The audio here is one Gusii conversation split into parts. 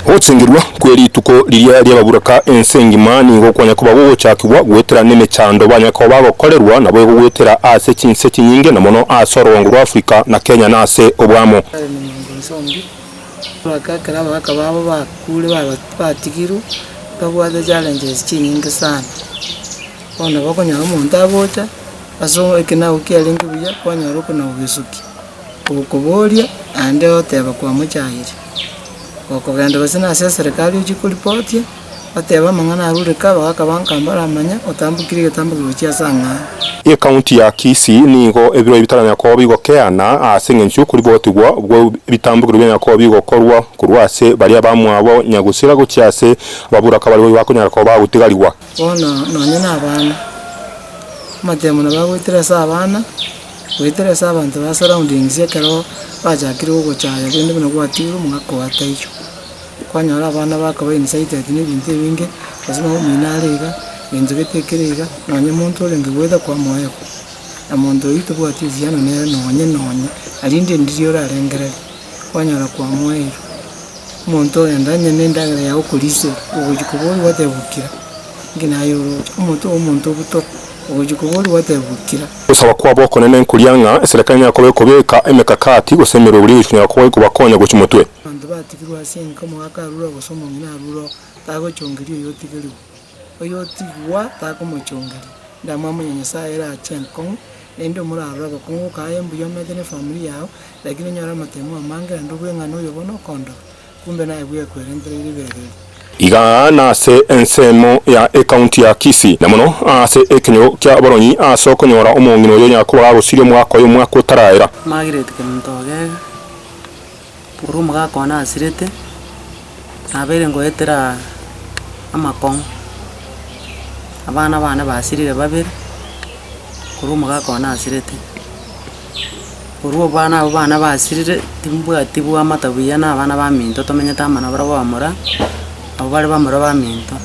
Gochengirwa kwe rituko riria ri'ababuraka ense engima nigo kwanya koba gogochakigwa goetera nemechando banya koba bagokorerwa naboigo goetera ase chinse chinyinge na mono ase orogongo rwa Africa na Kenya na ase obwamo. Kare na mwango inse onde, aboraka ekero abagaka babo bakure babat batigirwe, babwate challenges chinyinge sana. Bono nabo okonyora omonto agocha ase o ekinago kiarenge buya, kwanyora okona gogesukia. Ogokoboria aande ogoteba kwamochaayire. Gokogenda gose nase eserekari ochie koripotia, otebe amang'ana aria ore kaba gakabanka mbaramanye, otambukire egetambukero gochia ase ang'ao. Ecounty ya Kisii nigo ebiro ebi bitara Nyakobo bigokeana ase engencho y'okoribotigwa bwe bitambukero bia Nyakobo bigokorwa korwa ase baria abamwabo nyagusira gochia ase ababuraka baria bakonyara koba bagotigarigwa. Bono nonye na abana, amatemo nabo agoetire ase abana, goetire ase abanto ba surroundings ekero bachakire gogochaya rende buna gwatigwe omogaka oye taiyo, kwanyora abana bakaba incited na ebinto ebinge, gose nonya omino are iga, egento gete kere iga, nonye monto orenge goeta kwamoyoo, na monto oyio tobwati ebiana nere nonye nonye, naende ndiri orarengereri. kwanyora kwamoeirwe. Omonto ogenda onye ne endagera yaye okorisia ogochia kobori gwateba bukira, inki naye oroche? Omonto obe omonto obuto, ogochia kobori gwateba bukira. Ogosaba kwabo okone nenkoria ng'a eserekari nenyare koba ekobeka emekakati gose emerwebo eria egochikonyara koba egobakonya gochia omotwe. Abanto batigirwe ase enka omogaka arure oo gose omong'ina arure oo, tagochongeria oyotigerigwa. Oyotigigwa takomochongeria. Endamwamu ya Nyasaye erache enkong'u. Naende omoraro agakungu kaye mbuya omanyete ne family yao, lakini onyore amatemo amange naende obue ng'a noyo bono okondoka, kumbe naye bwekwerentera ere ebibe bire. Iga nase ensemo ya ecounty ya Kisii, na mono ase ekenyoro kia abaronyi ase okonyora omong'ina oyo Yakobo gagosiria omwaka oyo omwaka otaraera. Margaret Kemutogega. Ore omogaka one asirete, nabeire ngoetera amakong'u, abana bane basirire babere, ore omogaka one asirete. Korwa abana aba bane basirire, timbwati bwamata buya na abana baminto tomenyete amo na barabwo abamura, abwo bare bamura baminto.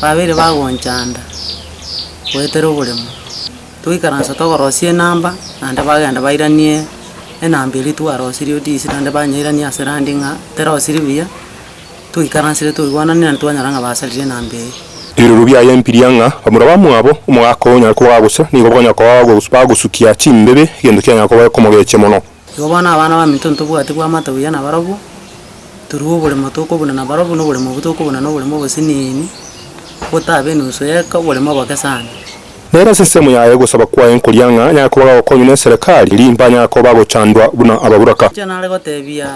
Babeire bagonchanda, goetera oboremo. Toikaransa togorosia enamba, naende bagenda bairanie enamba eria twarosirie odiesi naende banyairania ase randi ng'a terosiri buya, twaikaransire twaigwananire naende twanyora ng'a basarire enamba eyio. Ebiroro biaye mbiria ng'a bamura bamwabo, omogaka onyare koba gagocha, nigo bakonyara koba bagosukia chimbibe, egento kianyara koba ekomogechia mono. Igo bono abana baminto ntobwati koamata buya nabarabwo, torue oboremo tokobuna nabarabwo na oboremo obwo tokobuna na oboremo obosiniini, botabe enusu y'eka oboremo oboke sana. Nere ase ensemo yaye ogosaba kwaye nkoria ng'a nyare koba gagokonywa n'eserekari, erio mbanyare koba gochandwa buna ababoraka. Inche nare gotebia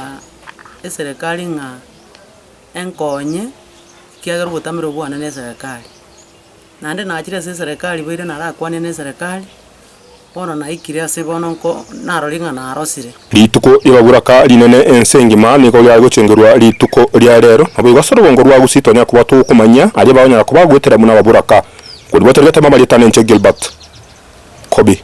eserekari ng'a enkonye, ekiagera obotamero bwane n'eserekari. Naende nachire ase eserekari boiire narakwane neserekari, bono naikire ase bono nko narorie ng'a narosire. Rituko ri'ebaburaka rinene ense engima nigo riare gochengerwa rituko ria reero. Naboigo ase orobongo rwa Gusii twanyare koba tokomanyia aria bakonyara kobagoetera buna ababuraka. Korwa ribatenegete mama rietane inche Gilbert. Kobe.